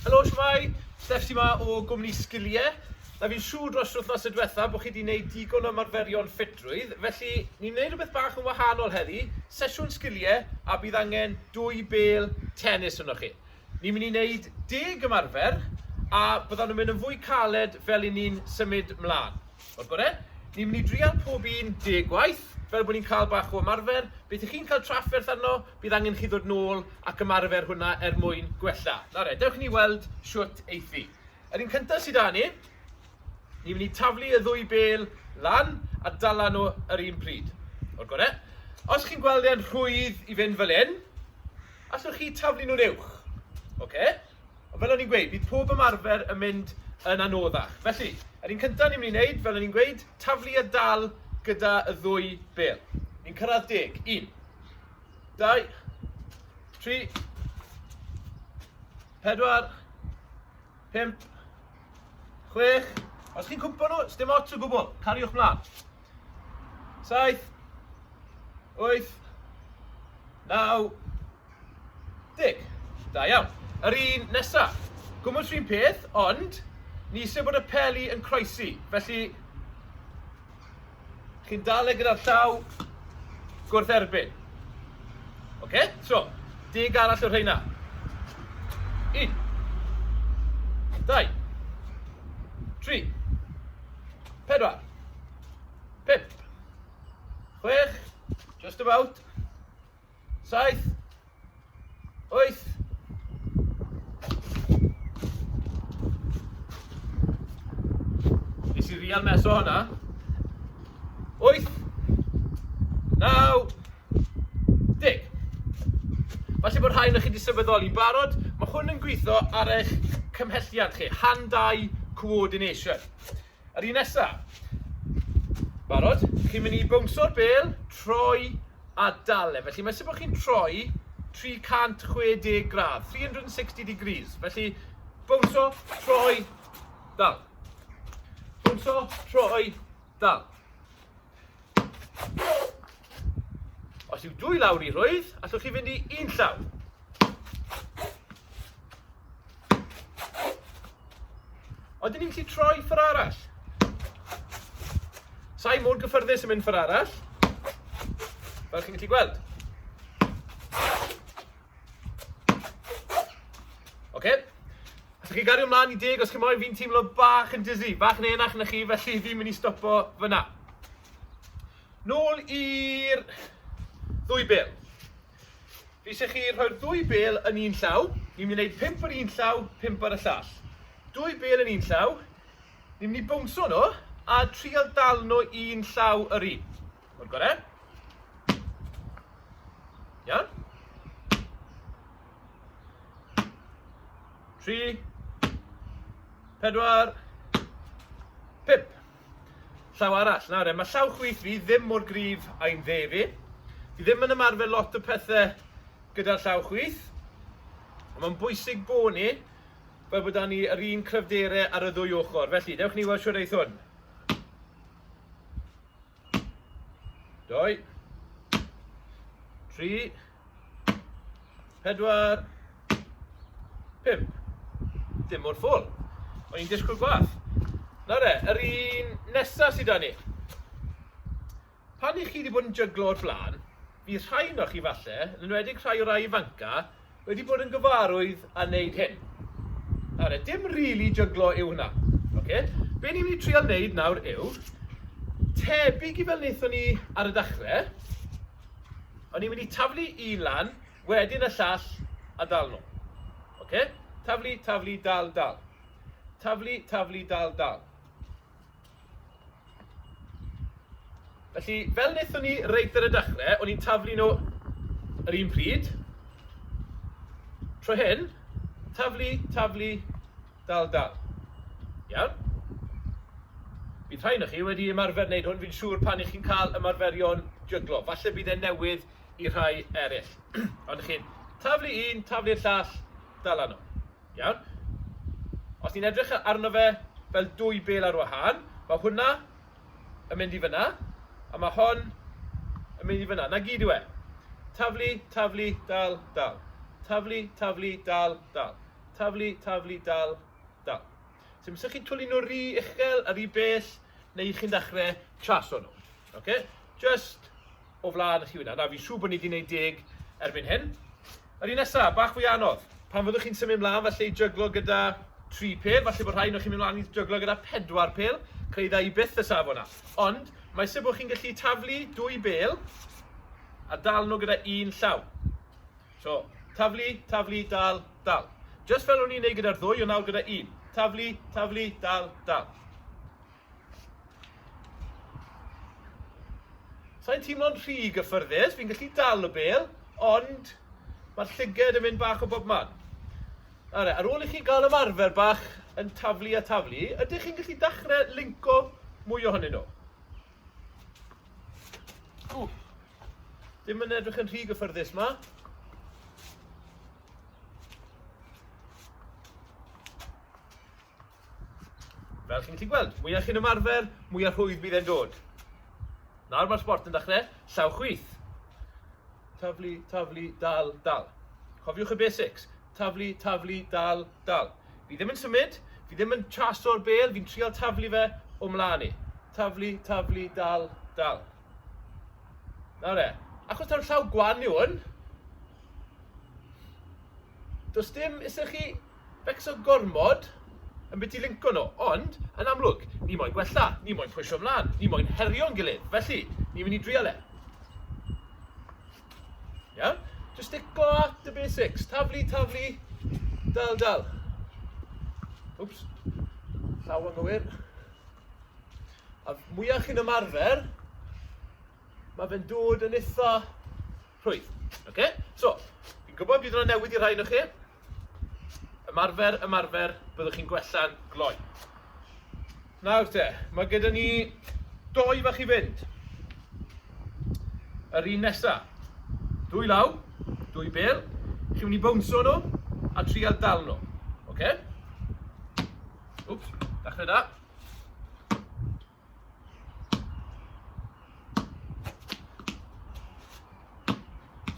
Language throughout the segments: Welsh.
Helo, shwmae? Steffs yma o gwmni Sgiliau. Na fi'n siŵr dros yr wythnos y diwetha bod chi wedi gwneud digon o ymarferion ffitrwydd, felly ni'n gwneud rhywbeth bach yn wahanol heddi, sesiwn sgiliau a bydd angen dwy bel tennis yno chi. Ni'n mynd i wneud deg ymarfer a byddan nhw'n mynd yn fwy caled fel i ni'n symud mlaen. O'r gore? Ni'n mynd i drial pob un deg gwaith, fel bod ni'n cael bach o ymarfer. Beth y'ch chi'n cael trafferth arno, bydd angen chi ddod nôl ac ymarfer hwnna er mwyn gwella. Nawr 'e, dewch i ni weld shwt eiff fi. Yr un cynta sy 'da ni, ni'n mynd i taflu y ddwy bêl lan a dala nhw yr un pryd. O'r gore? Os chi'n gweld e'n rhwydd i fynd fel 'yn, allwch chi taflu nhw'n uwch. Oce? Fel o'n i'n gweud, bydd pob ymarfer yn mynd yn anoddach. Felly, yr un cyntaf ni'n mynd i wneud, fel o'n i'n gweud, taflu a dal gyda y ddwy bel. Ni'n cyrraedd deg. Un. Dau. Tri. Pedwar. Pimp. Chwech. Os chi'n cwmpo nhw, sdim ots o gwbl. Cariwch mlaen. Saith. Wyth. Naw. Deg. Da iawn. Yr un nesa. Gwmws fi'n peth, ond ni isie bod y peli yn croesi, felly chi'n dal e gyda'r llaw gwrth erbyn. Oce? Okay? So, deg arall o rheina. Un. Dau. Tri. Pedwar. Pip. Chwech. Just about. Saith. Wyth. Nes i rial mes o hwnna. Wyth. Naw. Deg. Falle bod rhain o'ch chi wedi sefydoli barod. Mae hwn yn gweithio ar eich cymhelliad chi. Hand-eye coordination. Yr un nesa. Barod? Chi'n mynd i bownso'r bel, troi a dal e. Felly, mae'n symud bod chi'n troi 360 gradd, 360 degrees. Felly, bownso, troi, dal. Bownso, troi, dal. Os yw dwy lawr i rhwydd, allwch chi fynd i un llaw. Ond dyn ni'n gallu troi ffyr arall. Sa'i mor gyffyrddus yn mynd ffyr arall. Fel chi'n gallu gweld. Oce? Os chi'n gario mlaen i deg, os chi'n moyn, fi'n teimlo bach yn dizzy, bach yn enach na chi, felly fi'n mynd i stopo fyna. Nôl i'r ddwy bel. Fi eisiau chi rhoi'r ddwy bel yn un llaw. Ni'n mynd i wneud pimp ar un llaw, pimp ar y llall. Dwy bel yn un llaw. Ni'n mynd i bwngso nhw a trial dal nhw un llaw yr un. O'r gore. Iawn. 3, 4, 5. Llaw arall. Nawr, e, mae llaw chwith fi ddim mor grif a'i'n dde fi. Fi ddim yn ymarfer lot o pethau gyda'r llaw chwith. Mae'n bwysig bod ni fel bod ni yr un cryfderau ar y ddwy ochr. Felly, dewch ni weld siwr eith hwn. Doi. Tri. Pedwar. Pimp. Dim o'r ffwl. O'n i'n disgwyl gwaith. Na re, yr un nesaf sydd da ni. Pan i chi wedi bod yn jyglo o'r blaen, fi rhai yno chi falle, yn enwedig rhai o rai ifanca, wedi bod yn gyfarwydd a wneud hyn. Nawr, e, dim really jyglo yw hwnna. Okay? Be ni'n mynd i trial wneud nawr yw, tebyg i fel wnaethon ni ar y dechrau, o'n i'n mynd i taflu un lan, wedyn y llall, a dal nhw. Okay? Taflu, taflu, dal, dal. Taflu, taflu, dal, dal. Felly, fel wnaethon ni reit ar y dechrau, o'n i'n taflu nhw yr un pryd. Tro hyn, taflu, taflu, dal, dal. Iawn? Bydd rhain o'ch chi wedi ymarfer wneud hwn, fi'n siŵr pan ych chi'n cael ymarferion jyglo. Falle bydd e'n newydd i rhai eraill. Ond chi'n taflu un, taflu'r llall, dal anno. Iawn? Os ni'n edrych arno fe fel dwy bêl ar wahân, mae hwnna yn mynd i fyna, a mae hon yn mynd i fyna. Na gyd yw e. Taflu, taflu, dal, dal. Taflu, taflu, dal, dal. Taflu, taflu, dal, dal. Sef so, chi'n twlu nhw rhy uchel a rhy bell, neu chi'n dechrau traso nhw. Oce? Just o flaen chi wna. Na, fi'n siŵr bod ni wedi gwneud deg erbyn hyn. Yr un nesaf, bach fwy anodd. Pan fyddwch chi'n symud mlaen, falle i jyglo gyda tri pel, falle bod rhai nhw'n chi'n mynd mlaen i jyglo gyda pedwar pel, creu dda i byth y safon yna. Ond, mae sef bod chi'n gallu taflu dwy bel a dal nhw gyda un llaw. So, taflu, taflu, dal, dal. Just fel o'n i'n neud gyda'r ddwy, o nawr gyda un. Taflu, taflu, dal, dal. Sa i'n teimlo'n rhy gyffyrddus, fi'n gallu dal y bel, ond mae'r llyged yn mynd bach o bob man. Alright, ar ôl i chi gael ymarfer bach yn taflu a taflu, ydych chi'n gallu dechrau linco mwy ohonyn nhw? Ww, ddim yn edrych yn rhy gyffyrddus ma. Fel chi'n gallu gweld, mwyaf chi'n ymarfer, mwyaf rhwydd bydd e'n dod. Nawr mae'r sport yn dechrau, llaw chwith. Taflu, taflu, dal, dal. Cofiwch y basics. Taflu, taflu, dal, dal. Fi ddim yn symud, fi ddim yn chaso'r bel, fi'n trial taflu fe o mlaen i. Taflu, taflu, dal, dal. Nawr e, achos ta'r llaw gwan yw hwn, does dim, ysych chi Becso gormod ambiti linco nhw, ond, yn amlwg, ni moyn gwella, ni moyn pwysio mlaen, ni moyn herio'n gilydd, felly, ni mynd i drial e. Iawn? Just stickle at the basics. Taflu, taflu, dal, dal. Wps, llaw anghywir. A mwyach chi'n ymarfer, mae fe'n dod yn eitha rhwydd. Oce? So, fi'n gwybod bydd yna newid i rhai yno chi. Ymarfer, ymarfer, byddwch chi'n gwella'n gloi. Nawr te, mae gyda ni doi fach i fynd. Yr un nesa. Dwy law, dwy bel. Chi'n mynd i bwnsio nhw a trial dal nhw. Oce? Okay? Wps, dachrau da.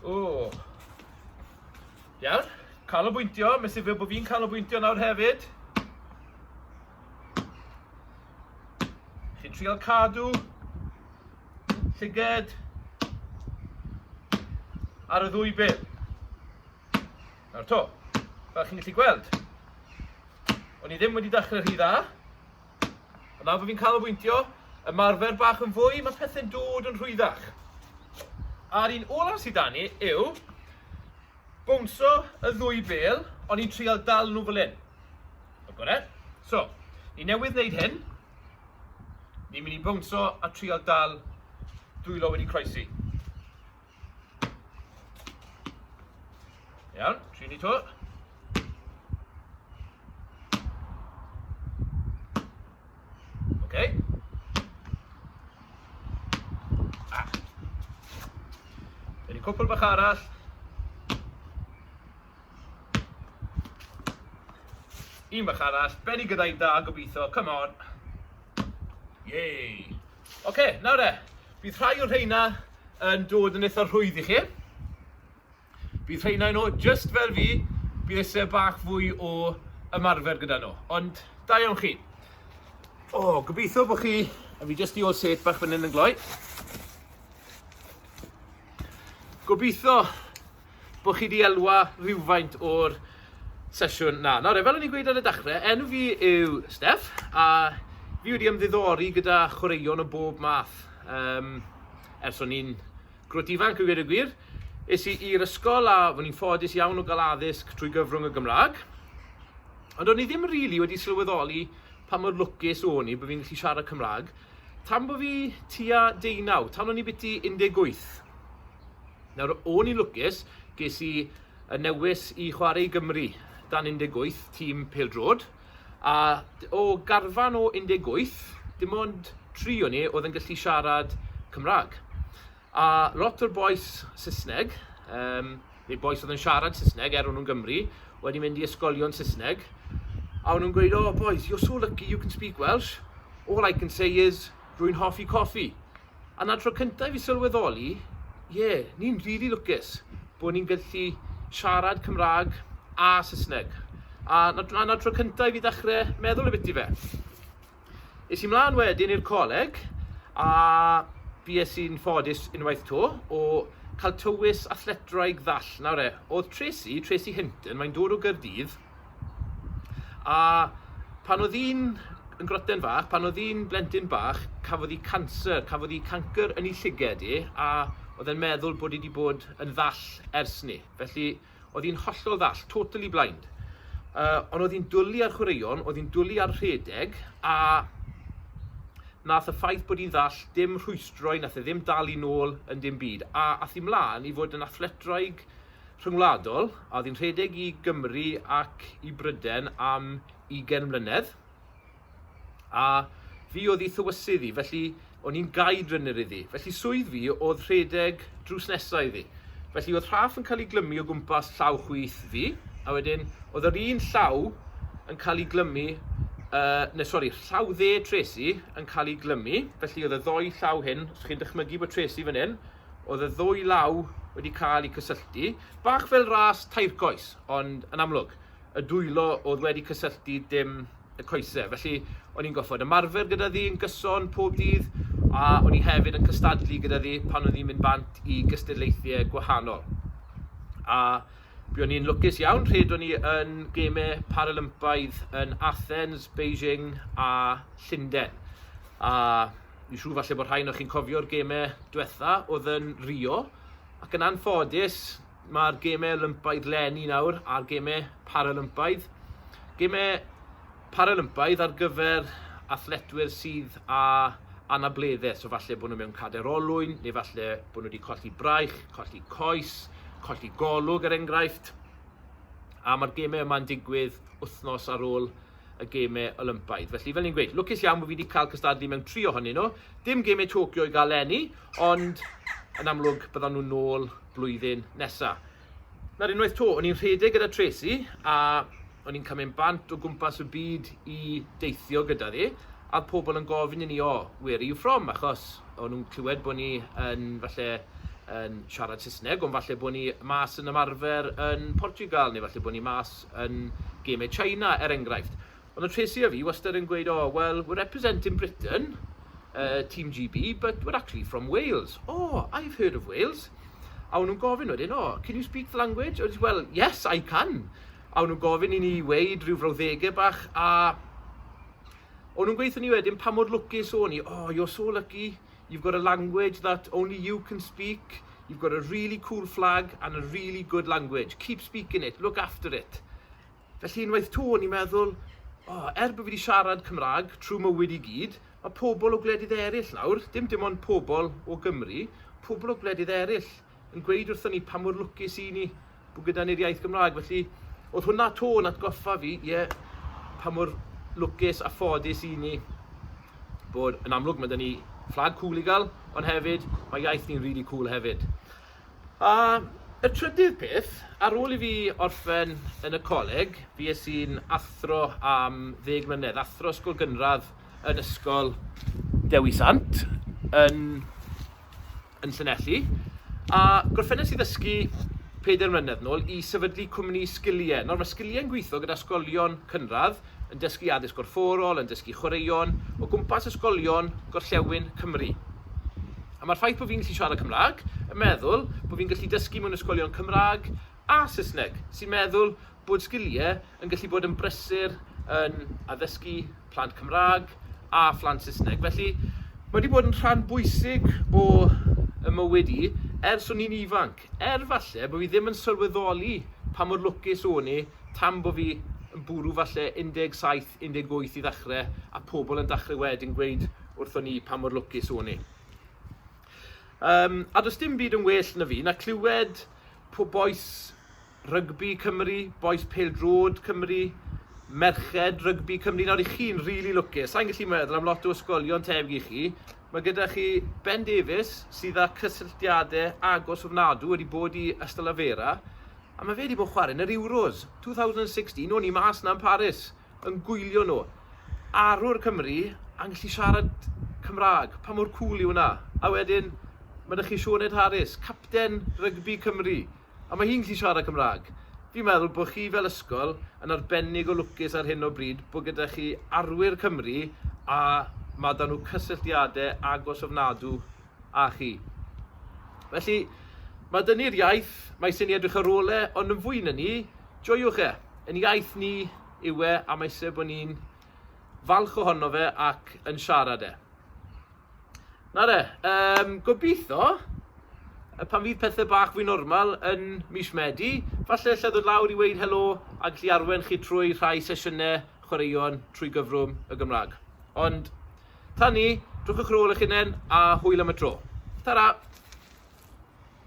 O! Iawn, cael o bwyntio, mae'n sifio bod fi'n cael o bwyntio nawr hefyd. Chi'n trial cadw, llyged, ar y ddwy bil. Nawr to, fel chi'n gallu gweld, o'n i ddim wedi dechrau rhy dda, A nawr fo fi'n canolbwyntio, ymarfer bach yn fwy, mae pethau'n dod yn rhwyddach. A'r un olaf sydd 'da ni yw bwnso y ddwy bel, ond i'n trial dal nhw fel hyn. Mae'n gorau? So, ni newydd wneud hyn. Ni'n mynd i bwnso a trial dal dwylo wedi croesi. Iawn, tri ni to. Okay. Ah. Ydy cwpl bach arall. Un bach arall. Benny gyda'i da, gobeithio. Come on. Yay. Ok, nawr de, bydd rhai o rheina yn dod yn eitha rhwydd i chi. Bydd rheina i nhw, just fel fi, bydd eisiau bach fwy o ymarfer gyda nhw. Ond, da iawn chi. O, oh, gobeithio bod chi... A fi just i ôl set bach fan hyn yn gloi. Gobeithio bod chi wedi elwa rhywfaint o'r sesiwn na. Nawr, fel o'n i'n gweud ar y dechrau, enw fi yw Steff, a fi wedi ymddiddori gyda chwaraeon o bob math. Um, ers o'n i'n grwt ifanc, yn gwir y gwir, es i i'r ysgol a fod ni'n ffodus iawn o gael addysg trwy gyfrwng y Gymraeg. Ond o'n i ddim rili really wedi sylweddoli pa mor lwcus o'n i bod fi'n gallu siarad Cymraeg tan bod fi tua deunaw, tan o'n i biti 18. Nawr, o'n i'n lwcus, ges i y newis i chwarae i Gymru dan 18, tîm pêl-drod, a o garfan o 18, dim ond tri o ni oedd yn gallu siarad Cymraeg. A lot o'r bois Saesneg, um, neu bois oedd yn siarad Saesneg er o'n nhw'n Gymru, wedi mynd i ysgolion Saesneg, a o'n nhw'n gweud, oh boys, you're so lucky you can speak Welsh, all I can say is, rwy'n hoffi coffi. A 'na'r tro cyntaf i fi sylweddoli, ie, ni'n rili lwcus bod ni'n gallu siarad Cymraeg a Saesneg. A 'na'r tro cyntaf i fi ddechrau meddwl y biti fe. Es i mlaen wedyn i'r coleg a bues i'n ffodus unwaith to o cael tywys athletraig ddall. Nawr e, oedd Tracy, Tracy Hinton, mae'n dod o Gaerdydd, A pan oedd hi'n yn groten fach, pan oedd hi'n blentyn bach, cafodd hi canser, cafodd hi cancr yn ei llyged hi, a oedd e'n meddwl bod hi wedi bod yn ddall ers ni. Felly, oedd hi'n hollol ddall, totally blind. Uh, ond oedd hi'n dwlu ar chwaraeon, oedd hi'n dwlu ar rhedeg, a nath y ffaith bod hi'n ddall dim rhwystroi, nath e ddim dal i nôl yn dim byd. A ath hi mlaen i fod yn athletraig rhyngwladol a oedd hi'n rhedeg i Gymru ac i Bryden am 20 mlynedd. A fi oedd ei thywysydd i, felly o'n i'n gaid rynnyr iddi. Felly swydd fi oedd rhedeg drws nesau iddi. Felly oedd rhaff yn cael ei glymu o gwmpas llaw chwith fi, a wedyn oedd yr un llaw yn cael ei glymu, uh, neu sori, llaw dde Tracy yn cael ei glymu, felly oedd y ddoi llaw hyn, os chi'n dychmygu bod Tracy fan hyn, Oedd y ddwy law wedi cael eu cysylltu, bach fel ras tair coes, ond yn amlwg, y dwylo oedd wedi cysylltu dim y coesau. Felly, o'n i'n goffod ymarfer gyda ddi yn gyson pob dydd, a o'n i hefyd yn cystadlu gyda ddi pan o'n i'n mynd bant i gystadlaethiau gwahanol. A bu o'n i'n lwcus iawn, rhed o'n i yn gemau Paralympaidd yn Athens, Beijing a Llundain. A Fi'n siŵr falle bod rhai o'ch chi'n cofio'r gemau diwetha oedd yn Rio, ac yn anffodus mae'r gemau Olympaidd lenni nawr a'r gemau Paralympaidd. Gemau Paralympaidd ar gyfer athletwyr sydd â anableddau, so falle bod nhw mewn cader olwyn, neu falle bod nhw wedi colli braich, colli coes, colli golwg er enghraifft. A mae'r gemau yma'n digwydd wythnos ar ôl y gemau Olympaidd. Felly, fel ni'n gweud, lwcus iawn bod fi wedi cael cystadlu mewn tri ohonyn nhw. Dim gemau Tokyo i gael lenni, ond yn amlwg byddan nhw'n nôl blwyddyn nesaf. Na'r unwaith to, o'n i'n rhedeg gyda Tracy a o'n i'n cael mynd bant o gwmpas y byd i deithio gyda ddi, a pobl yn gofyn i ni, o, where are you from? Achos o'n nhw'n clywed bod ni yn falle yn siarad Saesneg, ond falle bod ni mas yn ymarfer yn Portugal, neu falle bod ni mas yn gemau China, er enghraifft. Ond oedd Tracey a fi wastad yn gweud, oh, well, we're representing Britain, uh, Team GB, but we're actually from Wales. Oh, I've heard of Wales. A o'n nhw'n gofyn wedyn, oh, can you speak the language? Oedd, well, yes, I can. A o'n nhw'n gofyn i ni weid rhyw frawddegau bach, a o'n nhw'n gweithio ni wedyn pa mor lwcus o'n ni, oh, you're so lucky, You've got a language that only you can speak, you've got a really cool flag and a really good language, keep speaking it, look after it. Felly unwaith to, o'n i'n meddwl, oh, er bod fi wedi siarad Cymraeg trwy mywyd i gyd, mae pobl o gwledydd eraill nawr, dim dim ond pobl o Gymru, pobl o gwledydd eraill, yn gweud wrthon ni pa mor lwcus i ni bod gyda ni'r iaith Gymraeg. Felly, oedd hwnna to yn atgoffa fi, ie, yeah, pa mor lwcus a ffodus i ni bod yn amlwg mae dyn ni fflag cool i gael, ond hefyd mae iaith ni'n really cool hefyd. A y trydydd peth, ar ôl i fi orffen yn y coleg, fi es i'n athro am ddeg mlynedd, athro ysgol gynradd yn ysgol Dewi Sant, yn yn Llanelli, a gorffennes i ddysgu pedair mlynedd nôl i sefydlu cwmni sgiliau. Nawr, mae sgiliau'n gweithio gyda ysgolion cynradd, yn dysgu addysg gorfforol, yn dysgu chwaraeon, o gwmpas ysgolion gorllewin Cymru. A mae'r ffaith bod fi'n gallu siarad Cymraeg, yn meddwl bod fi'n gallu dysgu mewn ysgolion Cymraeg, a Saesneg, sy'n meddwl bod sgiliau yn gallu bod yn brysur yn addysgu plant Cymraeg a phlant Saesneg. Felly, mae wedi bod yn rhan bwysig o y mywyd i ers o'n i'n ifanc, er falle bod fi ddim yn sylweddoli pa mor lwcus o'n i tan bod fi yn bwrw falle 17, 18 i ddechrau, a pobl yn dechrau wedyn gweud wrthon ni pa mor lwcus o'n i. Um, a does dim byd yn well na fi na clywed po bois rygbi Cymru, bois pêl-drod Cymru, merched rygbi Cymru. Nawr, i chi'n rili really lwcus, sa'n gallu meddwl am lot o ysgolion tebyg i chi. Mae gyda chi Ben Davies, sydd â cysylltiadau agos ofnadw, wedi bod i Ystalyfera, a mae fe wedi bod chwarae yn yr Euros 2016, o'n i mas na yn Paris. yn gwylio nhw. Arwr Cymru a'n gallu siarad Cymraeg, pa mor cŵl yw hwnna? A wedyn, mae 'da chi Sioned Harris, capten rygbi Cymru, a mae hi'n gallu siarad Cymraeg. Fi'n meddwl bod chi fel ysgol yn arbennig o lwcus ar hyn o bryd bod gyda chi arwyr Cymru a mae 'da nhw cysylltiadau agos ofnadw â chi. Felly, mae dyni'r iaith, mae sy'n edrych ar ôl e, ond yn fwy na ni, Joiwch e! Yn iaith ni yw e a mae eisiau bod ni'n falch ohono fe ac yn siarad e. Na de, um, gobeithio pan fydd pethau bach fwy normal yn mis Medi, falle lle ddod lawr i weid helo a gallu arwen chi trwy rhai sesiynau chwaraeon trwy gyfrwng y Gymraeg. Ond tan ni, drwch y crôl eich hunain a hwyl am y tro. Ta-ra!